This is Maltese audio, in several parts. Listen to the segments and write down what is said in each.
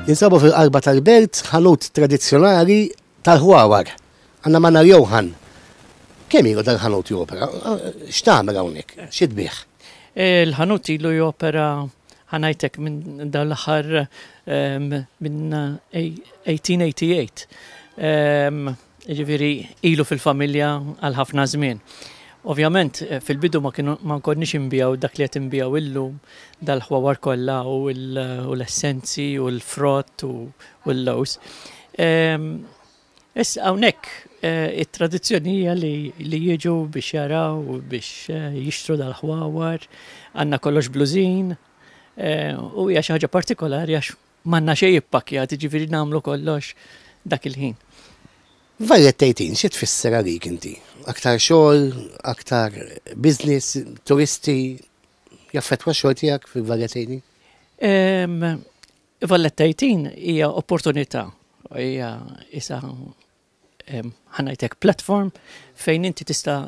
Jinsabu fil-qalba tal-belt ħanut tradizzjonali tal-ħwawar. Għanna Manna Johan. Kemm ilu dal-ħanut jopera? X'tagħmel hawnhekk? Xi tbih? Il-ħanut ilu jopera ħanajtek minn dawn l-aħħar minn 1888. Jiġifieri ilu fil-familja għal ħafna żmien. Ovvjament fil-bidu ma kienu ma nkonniex inbigħu dak li qed inbigħu illum, dal-ħwawar kollha u l-essenzi u l-frott u l-lewż. Issa hawnhekk it-tradizzjoni hija li li jiġu biex jaraw u biex jixtru dal-ħwawar, għandna kollox blużin u hija xi ħaġa partikolari għax M'għandna xejn ippakkjat, jiġifieri nagħmlu kollox dak il-ħin. Vallett 18 xi tfisser għalik inti? Aktar xogħol, aktar business, turisti, jaffettwa x-xogħol tiegħek fil-Vallett 18? Vallett 18 hija opportunità, hija isa ħa ngħidlek platform fejn inti tista'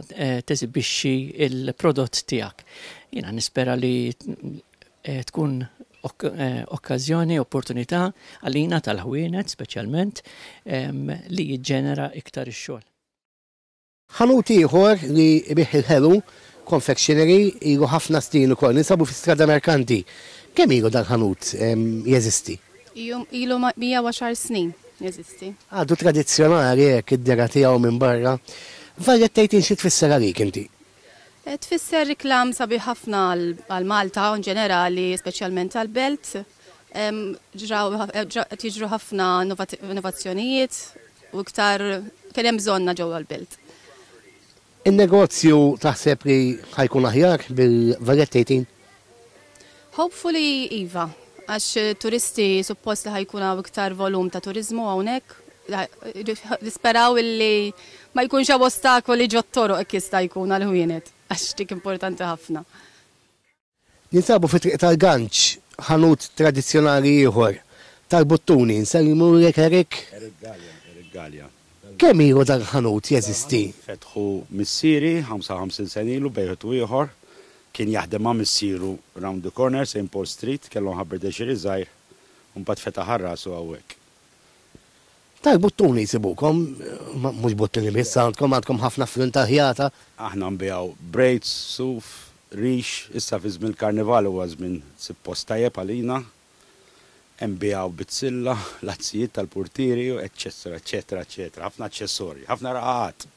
teżibixxi l-prodott tiegħek. Jiena nispera li tkun okkażjoni, opportunità għalina tal-ħwienet speċjalment li jiġġenera iktar ix-xogħol. Ħanut ieħor li jbigħ il-ħelu, confectionery, ilu ħafna snin ukoll. Ninsabu fi Strada Mercanti. Kemm ilu dal-ħanut jeżisti? Ilu ilu 110 snin jeżisti. Għadu tradizzjonali hekk id-dehra tiegħu minn barra. Violet tgħidlin xi tfisser għalik inti? Tfisser iklam sabiħ ħafna għal Malta u inġenerali speċjalment għall-belt. Ġraw, qed jiġru ħafna innovazzjonijiet u iktar kien hemm bżonna ġewwa l-belt. In-negozju taħseb li ħa jkun aħjar bil-Valletta 18? Hopefully iva, għax turisti suppost li ħa jkun hawn iktar volum ta' turiżmu hawnhekk. Nisperaw illi ma jkunx hawn ostakoli ġot-toroq hekk jista' jkun għall-ħwienet għax dik importanti ħafna. Ninsabu fi Triq tal-Ganċ, ħanut tradizzjonali ieħor tal-buttuni. Nsellimu lilek Eric. Eric Galea, Eric Galea. Kemm ilu dan il-ħanut jeżisti? Dan il-ħanut fetħu missieri 55 sena ilu b'wieħed u ieħor. Kien jaħdem ma' missieru round the corner, Saint Paul's Street, kellhom ħabberdeċieri żgħir u mbagħad fetaħ għal rasu hawnhekk. Tal buttuni jsibukom, mhux buttuni biss għandkom, għandkom ħafna fnun ta' ħjata. Aħna nbigħu braids, suf, rix, issa fi żmien il-Karnival huwa żmien sib post tajjeb għalina. Nbigħu bizzilla, l-azzijiet tal-purtieri, eċċessra, eċċetera, eċċetera. Ħafna aċċessorji, ħafna raqaqat.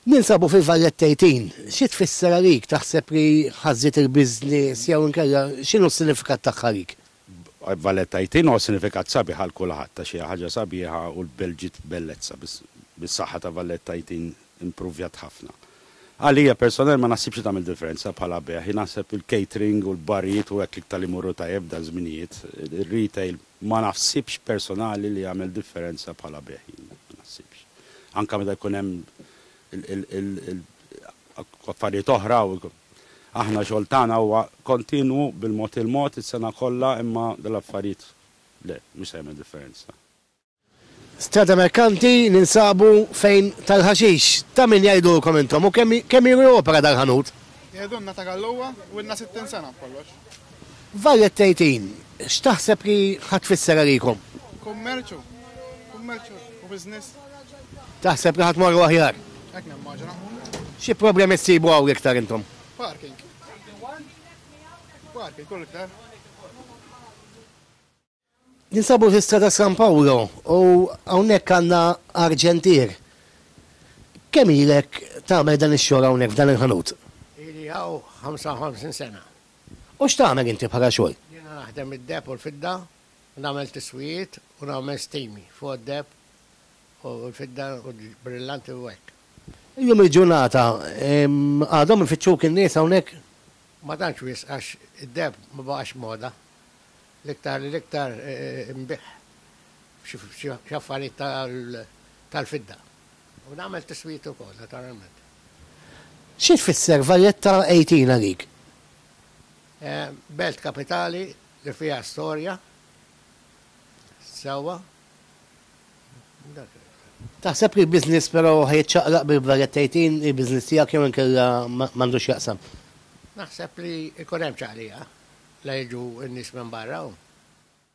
Ninsabu fil-Vallet Tejtin. Xi tfisser għalik? Taħseb li ħażżiet il-business jew inkella x'inhu s-sinifikat tagħha għalik? Vallet Tejtin huwa sinifikat sabiħ għal kulħadd għax hija ħaġa sabiħa u l-belt ġiet bellezza. Bis-saħħa ta' Vallet Tejtin impruvjat ħafna. Għalija personalment ma naħsibx li tagħmel differenza bħala bejgħ. Jien naħseb il-catering u l-barijiet u hekk l-iktar li jmorru tajjeb f'dan żminijiet. Ir-retail Ma naħsibx personali li jagħmel differenza bħala bejgħ jien, ma naħsibx. Anke meta jkun hemm affarijiet oħra u aħna xogħol tagħna huwa kontinwu bil-mod il-mod is-sena kollha imma dal-affarijiet le, mhux se jagħmel differenza. Strada Merkanti ninsabu fejn tal-ħaxix ta' min jgħidulkom intom u kemm ilu jopera dal-ħanut? Jgħidulna ta' Gallowa u ilna sittin sena b'kollox. Varjet tgħidin, x'taħseb li ħa tfisser għalikom? Kummerċu. Kummerċu u business. Taħseb li ħa tmorru aħjar? Hekk nimmaġina. Xi problemi ssibu hawn l-iktar intom? Parking. Parking u l-iktar. Ninsabu fi Strada San Paolo u hawnhekk għandna arġentier. Kemm ilek tagħmel dan ix-xogħol hawnhekk f'dan il-ħanut? Ili hawn 55 sena. U x'tagħmel inti bħala xogħol? Jiena naħdem id-deheb u l-fidda, u nagħmel tiswijiet u nagħmel stimi fuq id-deheb u l-fidda u l-brillanti u hekk. Illum il-ġurnata għadhom ifittxuk in-nies hawnhekk? Ma tantx wisq għax id-deheb ma baqax moda. L-iktar l-iktar inbigħ f'xi affarijiet tal-fidda. U nagħmel tiswijiet ukoll, naturalment. Xi tfisser Valletta 18 għalik? Belt kapitali li fiha storja, sewwa. Taħseb li l-business però ħa jiċċaqlaq bil-kbajjed tgħid hi l-business tiegħek jew inkella m'għandu x'jaqsam? Naħseb li jkun hemm ċaqliqa la jiġu n-nies minn barra u.